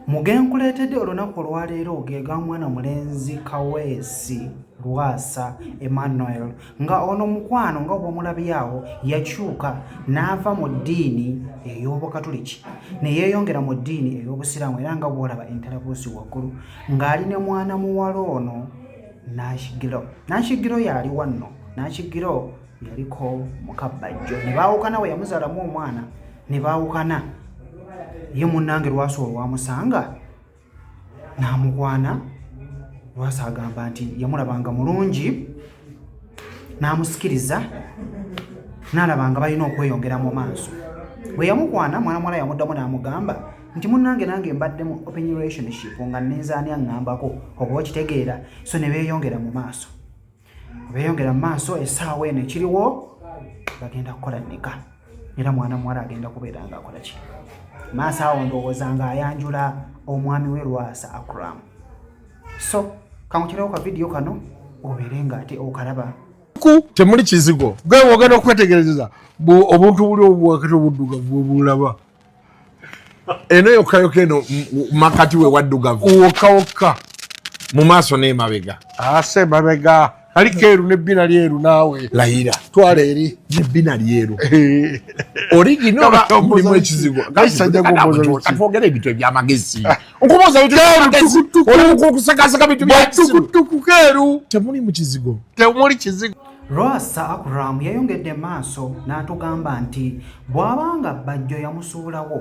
mugenkuleetedde olunaku olwaleero gega mwana mulenzi kaweesi lwasa emmanuel nga ono mukwano nga obwomulabyawo yakyuka n'ava mu ddiini ey'obukatuliki neyeeyongera mu ddiini ey'obusiraamu era nga bwolaba entalabuusi waggulu ng'ali ne mwana muwala ono nakigiro nakigiro yaali wanno nakigiro yaliko mukabbajjo ne baawukana we yamuzaalamu omwana ne baawukana ye munnange lwasa olwamusanga n'amukwana lwasa agamba nti yamulabanga mulungi n'amusikiriza n'alaba nga balina okweyongera mu maaso bwe yamukwana mwana muwala yamuddamu n'amugamba nti munnange nange mbadde mu open relationship nga nneezaani aŋŋambako oba okitegeera so ne beeyongera mu maaso beeyongera mu maaso esaawa eno ekiriwo bagenda kukola nika era mwana muwala agenda kubeera nga akola ki maaso awo ndowooza nga ayanjula omwami we lwasa akram so kankukirawo ka vidiyo kano obeere nga ate okalaba temuli kizigo gwe wogenda okwetegereza obuntu buli obwakati obuddugavu bwebulaba eno yokayoka eno makati we waddugavu wokawoka mu maaso n'emabega ase mabega ali keeru nebbina lyeru naawe layira twala eri nebbina lyeru originomulimu ekizibu katwogera ebintu ebyamagezi nkubuuzaokusakasaka bintu byatukutuku keeru temuli mu kizigo temuli kizigo Lwasa Akram yayongedde maaso n'atugamba nti bw'aba nga Bajjo yamusuulawo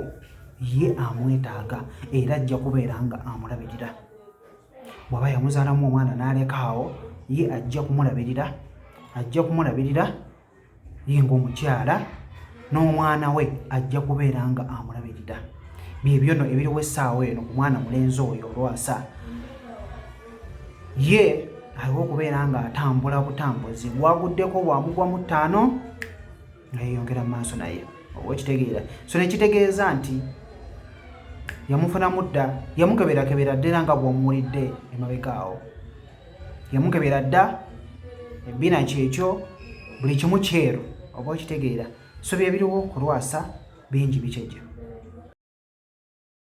ye amwetaaga era ajja kubeera nga amulabirira bw'aba yamuzaalamu omwana n'aleka awo ye ajja kumulabirira ajja kumulabirira ye ng'omukyala n'omwana we ajja kubeera nga amulabirira byebyono ebiriwo essaawa eno ku mwana mulenzi oyo olwasa ye aliwo okubeera nga atambula butambuzi waguddeko bwamugwa mu ttaano nga yeyongera mu maaso naye oba okitegeera so nekitegeeza nti yamufunamu dda yamukeberakebera dda era nga bwomuwulidde emabega awo yamukebera dda ebbina kyekyo buli kimu kyeru oba okitegeera so byebiriwo kulwasa bingi bikyejo